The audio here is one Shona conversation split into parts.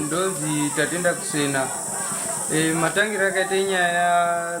Ndozi Tatenda Kusena. E, matangiro akaita inyaya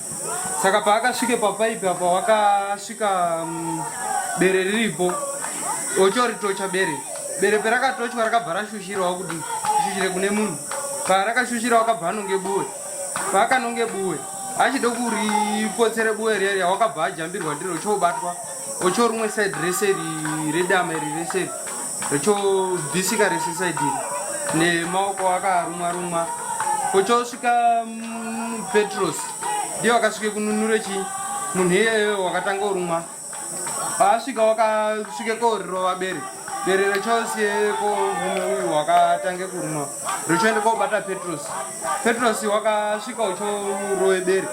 saka paakasvike papaipi apa wakasvika mm, bere riripo ochoritocha bere bere perakatochwa rakabva rashushirawo kuti shushire kune munhu parakashushira wakabva anonge buwe paakanonge buwe achide kuripotsere buwe riya riya wakabva ajambirwa ndiro ochobatwa ochorumwe side rese ri redama iri rese ri Chobvisika rese saidi nemaoko akarumwa rumwa kochosvika mm, Petros ndiye wakasvika kununura chi munhu iyeyo wakatanga urumwa paasvika wakasvika korirova bere bere rechosiye ko mumwe uyu wakatange kurumwa rechoende kobata Petros Petros wakasvika uchorove bere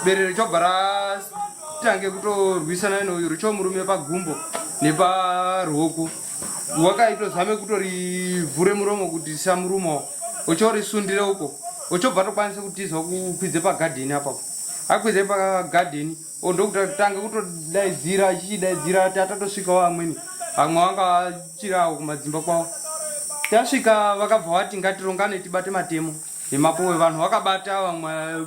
bere rechobva tange kutorwisana neuyu richo murume pagumbo neparuoko wakaitozame kutorivhure muromo kuti samuruma uchorisundire uko uchobva tokwanisa kutiza kukwidze pagadheni apapo akwidze pagadheni ndokutange kutodaidzira achichidaidzira tatatosvikawo amweni vamwe vanga vachirawo kumadzimba kwavo tasvika vakabva vati ngatirongane tibate matemo nemapowe vanhu vakabata vamwe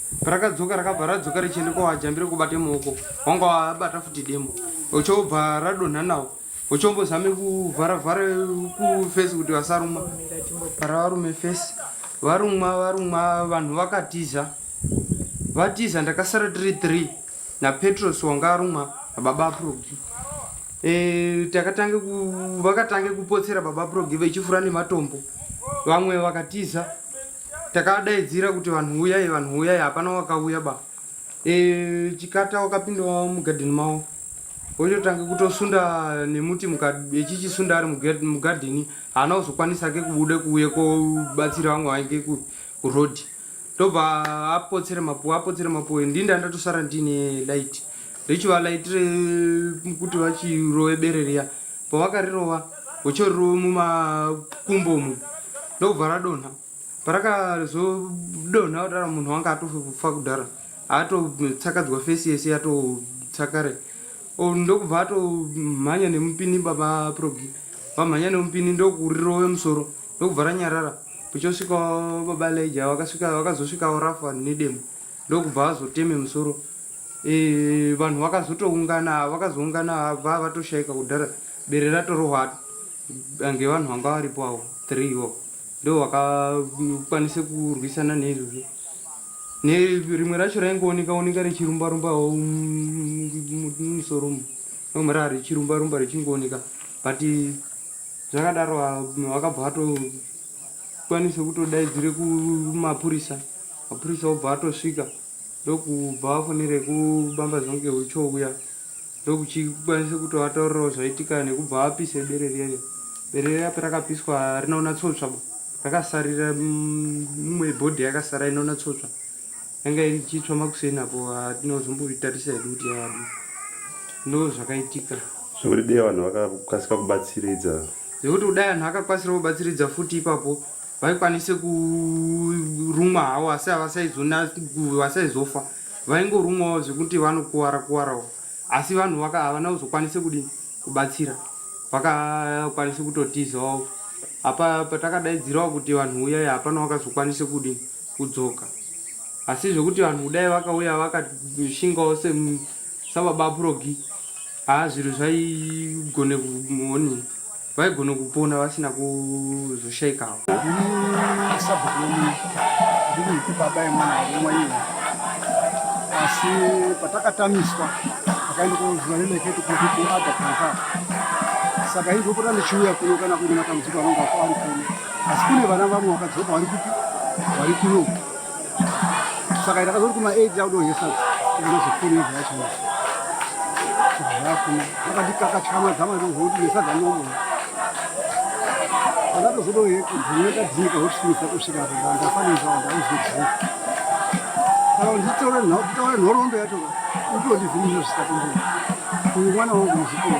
parakadzoka rakabva radzoka richienda kwawajambire kubate muoko wanga wabata futi demo uchobva radonha nawo uchombozame kuvhara vhara kufesi kuti vasaruma para varume fesi varumwa varumwa vanhu vakatiza vatiza ndakasara tiri three napetros wanga arumwa nababa aprogi e, takatange vakatange kupotsera baba aprogi vechifura nematombo vamwe vakatiza takadaidzira kuti vanhu uyai vanhu uyai hapana wakauya ba e, chikata wakapinda wavo mugadheni mavo wochotanga kutosunda nemuti echichisunda ari mugadheni haana kuzokwanisa ke kubuda kuuye kobatsira vamwe vainge kuroad ndobva apotsere mapuwe apotsere mapuwe ndini ndandatosara ndine light richiva light rekuti vachirove bere riya pavakarirova gocho riri mumakumbo umu ndokubva radonha parakazodonha kudara munhu wanga atofa kudhara atotsakadzwa fesi yese yatotsakare ndokubva atomhanya nemupini baba progi vamhanya nemupini ndokurirove musoro ndokubva ranyarara kuchosvika baba leja vakazosvikawo rafa nedemo ndokubva azoteme musoro Eh, vanhu vakazotoungana vakazoungana vava toshaika kudhara bere ratorohwa ange vanhu vanga varipo avo three wo ndo vakakwanisa kurwisana neizvozvo nerimwe racho raingooneka oneka richirumba rumba musoro mu rimwe raa richirumba rumba richingooneka but zvakadaro vakabva vatokwanisa kutodaidzire kumapurisa mapurisa obva atosvika ndokubva vafonere kubamba zvonge huchouya ndokuchikwanisa kuti vataurirawo zvaitika nekubva vapise bere riya riya bere riya parakapiswa rinoona tsotsva bo rakasarira mumwe bhodhi yakasara inoona tsotsva yanga iri chitsva makuseni apo atinozomboritarisa hedu kuti yadi ndo zvakaitika zvekuti dei vanhu vakakasika kubatsiridza zvekuti kudai vanhu vakakwanisira kubatsiridza futi ipapo vaikwanise kurumwa hawo asi havasaizofa vaingorumwawo zvekuti vanokuvara kuvarawo asi vanhu vaka havana kuzokwanise kudini kubatsira vakakwanise kutotizawo apa patakadaidzirawo kuti vanhu uyai hapana vakazokwanise kudini kudzoka asi zvekuti vanhu kudai vakauya vakashingawo sababa purogi haa zvinhu zvaigone kumoni vaigone kupona vasina kuzoshaikawo asi patakatamiswa akaenda kuziva neneketi kuti kuada kanza saka indopota ndichiuya kuno kana kuine matambudziko anonga ari kuno asi kune vana vamwe vakadzoka vari kupi vari kuno saka ndakazoti kuma 8 ndakudonhesa ndozofuni zvacho zvakuna vakandikakachama dzama ndozoti nesadza nomo pandatozodohekudzineka dzika wotisimisa kusvika pamba ndafanirwa ndauzodzika saka nditaure nhoroondo yacho utondivhimizvo zvisakundira uyu mwana wangu muzikoro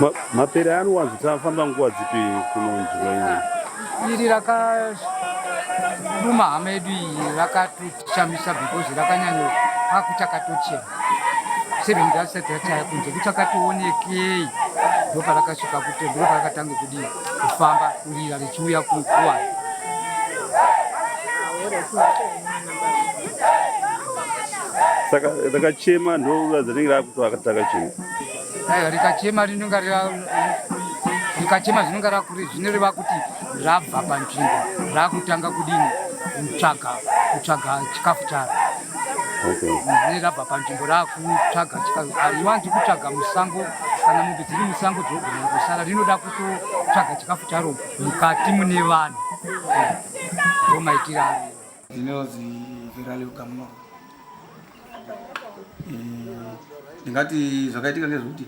Ma, mapere anowanzo tafamba nguva dzipi kunonzwa iri iri rakaduma hama yedu iyi rakatotishamisa because rakanyanyo akuchakatochena seven dasati rachaya kunze kuchakatoonekei ndoparakasvika kuti ndoparakatanga kudii kufamba kurira richiuya kukuwa saka rakachema ndoruva dzinenge rakutoakataka chii Aiwa rikachema rinonga rikachema zvinonga rakuri zvinoreva kuti rabva panzvimbo rakutanga kudini kutsvaga kutsvaga chikafu charo ne rabva panzvimbo rakutsvaga chikafu ariwanzi kutsvaga musango kana mombe dziri musango dzogona kusara rinoda kutotsvaga chikafu charo mukati mune vanhu ndomaitira Ndinonzi Virali Ugamuno. Eh, ndingati zvakaitika ngezvekuti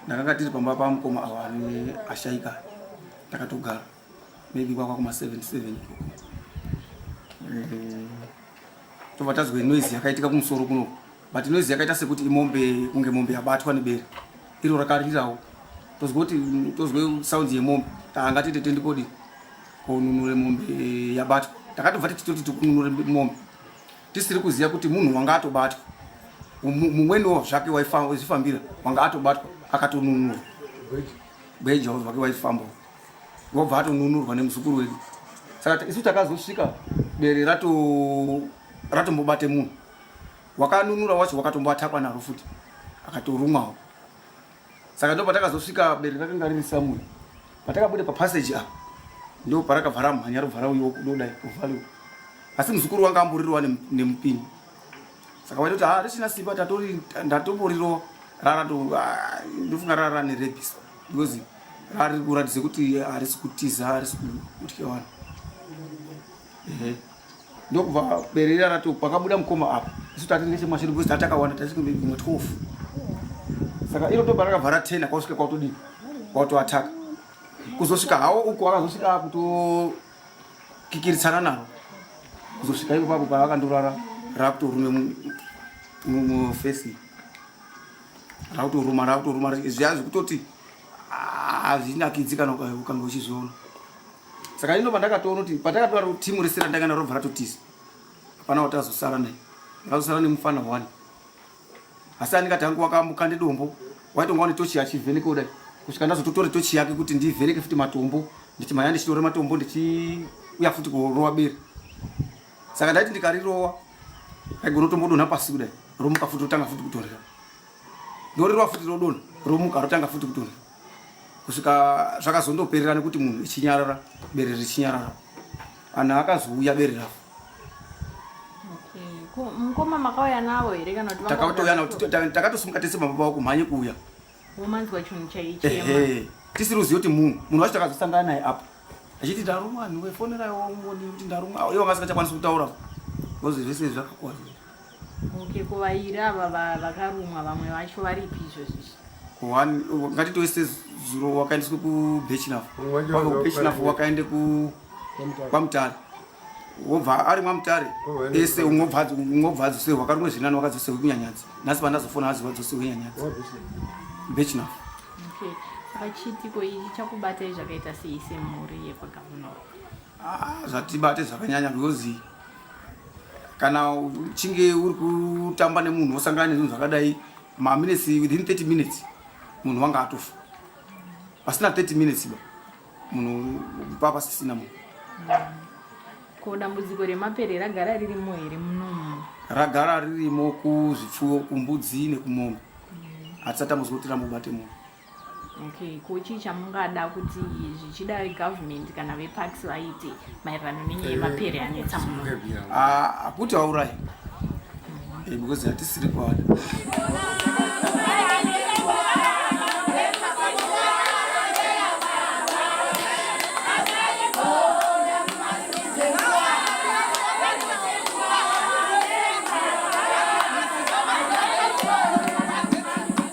ndakanga tiri pamba pamukoma awa ane ashaika takatogara maybe kwakwa kuma 77 tobva tazwe noise yakaitika kumusoro kunoku but noise yakaita sekuti imombe kunge mombe yabatwa nebere iro rakarirawo tozwe kuti tozwe sounds yemombe tanga tete tendikodi konunure mombe yabatwa takatobva tichitoti tikununure mombe tisiri kuziva kuti munhu wanga atobatwa mumweniwo zvake waizvifambira wanga atobatwa akatonunurwa gweja wake waifamba wobva atonunurwa nemuzukuru wedu saka isu takazosvika bere ratombobate munhu wakanunura wacho wakatomboatakwa naro futi akatorumwawo saka ndo patakazosvika bere rakanga riri samuel patakabuda papassage apa ndo parakabva ramhanya rovhara uyo kudodai kuvhaliwa asi muzukuru wanga amburirwa nemupini saka waitoti ha ah, richina simba tatori ndatomborirova rara to ah, ndofunga rara rane rebis because rari kuratidza kuti harisi kutiza harisi kutya vanhu ndokubva berere rati pakabuda mukoma apa isu tati nechemashiri because tati akawanda taisekumwe 12 saka iro toba rakavhara 10 akasvika kwautodii kwautoataka kuzosvika hawo uku akazosvika akutokikiritsana navo kuzosvika iko papo paakandorara rakutorume mufesi rakutoruma rakutoruma zviya zvekutoti hazvinakidzi kana ukange uchizviona saka ino pandakatoona kuti patakatoda timu rese randanga naro bva ratotiza hapana kuti azosara naye akazosara nemufana one asi andingati hangu wakamuka nedombo waitonga wane tochi achivheneka kudai kusvika ndazototore tochi yake kuti ndivheneke futi matombo ndichi maya ndichitore matombo ndichiuya futi kurova bere saka ndaiti ndikarirova aigona tombodonha pasi kudai romuka futi rotanga futi kutorera ndorirova futi rodonha romuka rotanga futi kutorera kusvika zvakazondoperera nekuti munhu ichinyarara bere richinyarara anhu akazouya bere ravo mukoma makauya navo here kana kuti takatouya navo takatosimuka tese baba vavo kumhanye kuuya womanzwa chinhu chaichema tisiri kuziva kuti munhu munhu wacho takazosangana naye apa achiti ndarumwa anhu wefoneraiwo ngoni kuti ndarumwa ivo vasingachakwanisi kutaura bcause zvese zvakakwaza Okay, kuvairi ava vakarumwa vamwe vacho varipi izvozvo izvi? One ngatitove sezuro wakaendeswa kubachelaf wava kubachelaf wakaenda kwamutare wobva ari mwamutare ese ungobva adzosewe wakarumwa zvirinani wakadzosewe kunyanyadzi nhasi pandazofona aziva adzosewe nyanyadzi bachelaf okay. saka chiitiko ichi chakubatai zvakaita sei semhuri yekwagavunoro ah, zvatibate zvakanyanya because kana uchinge uri kutamba nemunhu wosangana nezvinhu zvakadai maminutes within 30 minutes munhu wanga atofa pasina 30 minutes ba munhu pa pasisina munhu ko dambudziko remapere ragara ririmo here munomu ragara ririmo kuzvipfuwo kumbudzi nekumombe hatisati amuzoti rambobate munhu okay ko chii chamungada kuti zvichida government kana veparks vaite maererano nenyaya eh, yemapere anetsa muno hakuti ah, vaurai eh, because hatisiri kwada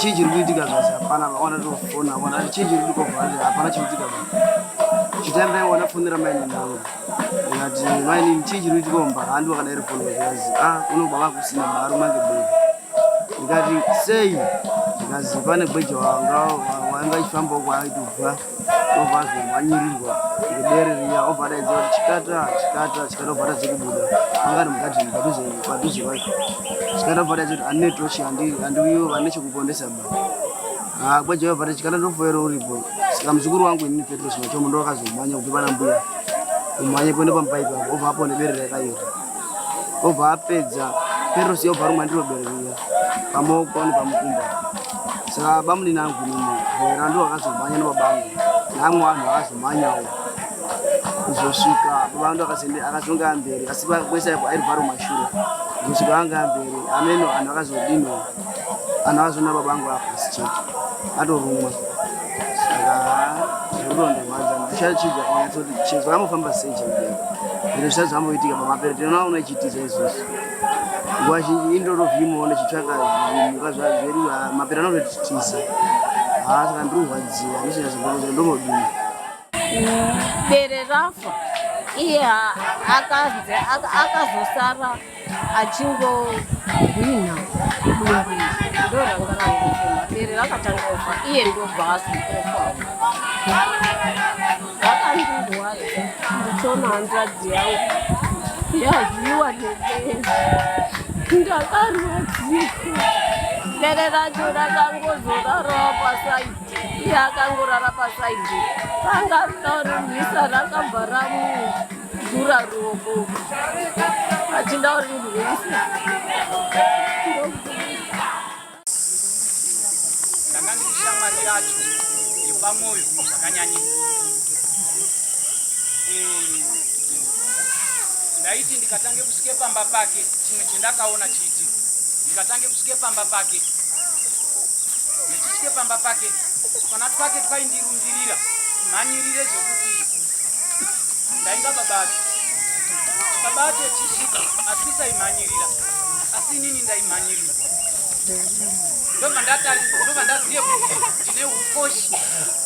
chii chiri kuitika zvasi hapana vaona tofona vona chii chiri kuitika hapana chiri kuitika chitandaiona fonera maine navo Ngati maini chii chiri kuitika mumba handi wakadaira foni zvikanzi a ah, uno baba kusina mari mange bwei ndikati sei zvikanzi pane gweja wanga wainga achifambawo kwaaitobva obva azomhanyirirwa ngedere riya obva adaidza kuti chikata chikata chikata obva atadze kubuda anga ari mugadhini padhuze padhuze kwacho chikata obva adaidza kuti anetochi handiwiwo vane chekupondesa baba Ah, kwa Jehovah pati chikana ndofoero uripo. Saka mzukuru wangu ini Petro sima chomo ndo akazomanya kuti bana mbuya. Umanye kwenda pamba ipo hapo ova hapo nebere rakayo. Ova apedza Petro sio varu mandiro bere riya. Pamo kwa ni pamukumba. Saka bamu ni nangu ni mo. Vera ndo akazomanya no babangu. Nangu anu akazomanya wo. Kuzoshuka babangu ndo akasende akazonga ambere. Asiba kwesa ipo airi varu mashura. Kuzoshuka anga ambere. Ameno anu akazodino. Anhu azvona baba angu apasi chete. Atorumwa. Saka zvoronde mwanza ndichachidza kunyatsa kuti chezvo amofamba sei chemudeni. Zviro zvisati zvamboitika pamapere tinoona una chitiza izvozvo. Nguva zhinji indoro vimo ndichitsvaka zvimuka zvazveriwa mapere anototitiza. Haa saka ndiri kurwadziwa ndisinya zvimbokuti ndomodini. Bere rafa iye akazosara achingohwinha dumbu ndoranga rangofema bere rakatanga kufa iye ndobva azokofa akandirwaza ndichona hanzvadzi yangu yazviwa nebere ndakarwadzika bere racho rakangozorara pasaidi iye akangorara pasaidi ranga rorwisa rakabva ramuka Dura ruoko. Achinda uri rwese. Ndanga ndichishamwari yacho yepamwoyo zvakanyanyisa. Eh, ndaiti ndikatange kusvike pamba pake chimwe chendakaona chiiti ndikatange kusvike pamba pake ndichisvike pamba pake tukana twake twaindirundirira mhanyirire zvekuti ndainga babati babati echisvika asisa imhanyirira asi inini ndaimhanyirirwa ndobva ndatarisa ndobva ndazive kuti ndine ukoshi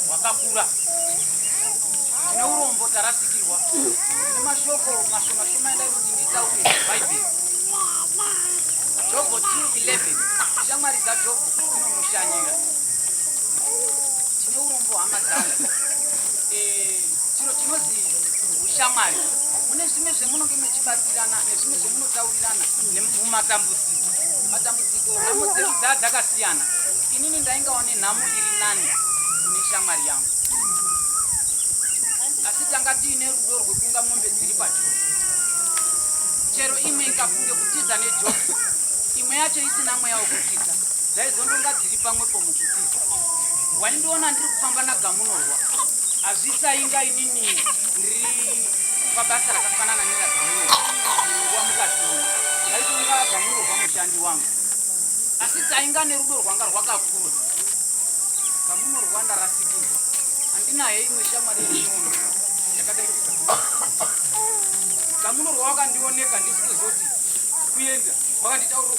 hwakakura ndine urombo tarasikirwa ndine mashoko mashomashoma endai kuti nditaure bhaibheri jobho 211 shamwari dzajobho dzinomushanyira tine urombo hama dzangu chiro chinozi ushamwari mune zvimwe zvemunonge mechibatsirana nezvimwe zvemunotaurirana nemumatambudziko matambudziko nhamo dzedu dzaa dzakasiyana inini ndaingawa nenhamo iri nani kune shamwari yangu asi tanga tiine rudo rwekunga mombe dziri pajosi chero imwe ikafunge kutiza nejosi imwe yacho isina mweya wekutiza Dai zondonga dziri pamwepo muchitiza waindiona ndiri kufamba nagamunorwa hazvisainga inini ndiri pabasa rakafanana neragamunorwa nguva mukazviona ndaitonga agamunorwa mushandi wangu asi tainga nerudo rwanga rwakakura gamunorwa ndarasikirwa handinaye imwe shamwari yemunono yakadai gamunorwa wakandioneka ndisikuziva kuti kuenda wakanditaurira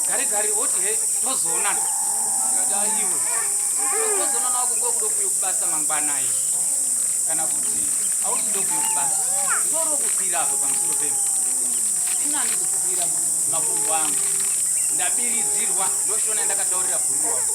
gari gari oti he tozoonana tikati aiwe tozoonana wako ngo kudo kuyo kubasa mangwana iyo kana kuti auti ndo kuyo kubasa ndoro kukwira apa pamusoro pemba inani kukwira makumbo angu ndabiridzirwa ndoshona ndakataurira bhuru wangu